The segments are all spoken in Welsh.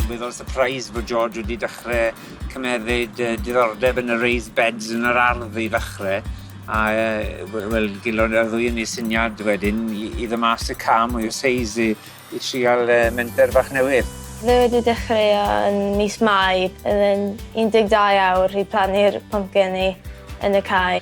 weddol surprised bod George wedi dechrau cymefyd uh, diddordeb yn y raised beds yn yr ardd i ddechrau. A uh, wel, gilon ar ddwy yn ei syniad wedyn i, i ddymas y cam mwy o seis i, i trial uh, menter bach newydd. Fe wedi dechrau yn mis Mai, yn 12 awr i plannu'r pumpkin i yn y cae.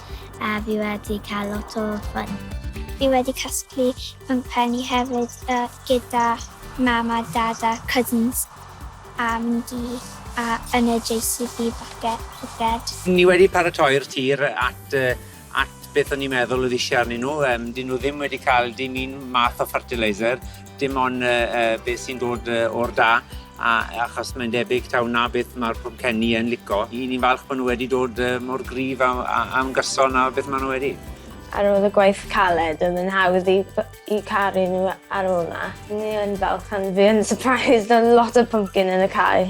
a fi wedi cael lot o ffyn. Fi wedi casglu pwmpenni hefyd yy gyda mam a dad a cousins a mynd i a yn y JCB falle piced. Ni wedi paratoi'r tir at yy at beth o'n i'n meddwl o'dd isie arnyn nhw yym 'dyn nhw ddim wedi ca'l dim un math o fertiliser. dim ond uh, uh, beth sy'n dod uh, o'r da, a, achos mae'n debyg taw na beth mae'r pwmcenni yn lico. I ni'n falch bod nhw wedi dod uh, mor grif am, am gyson a beth maen nhw wedi. Ar ôl y gwaith caled, oedd yn hawdd i, i caru nhw ar ôl na. Ni yn falch am fi yn surprised yn lot o pumpkin yn y cae.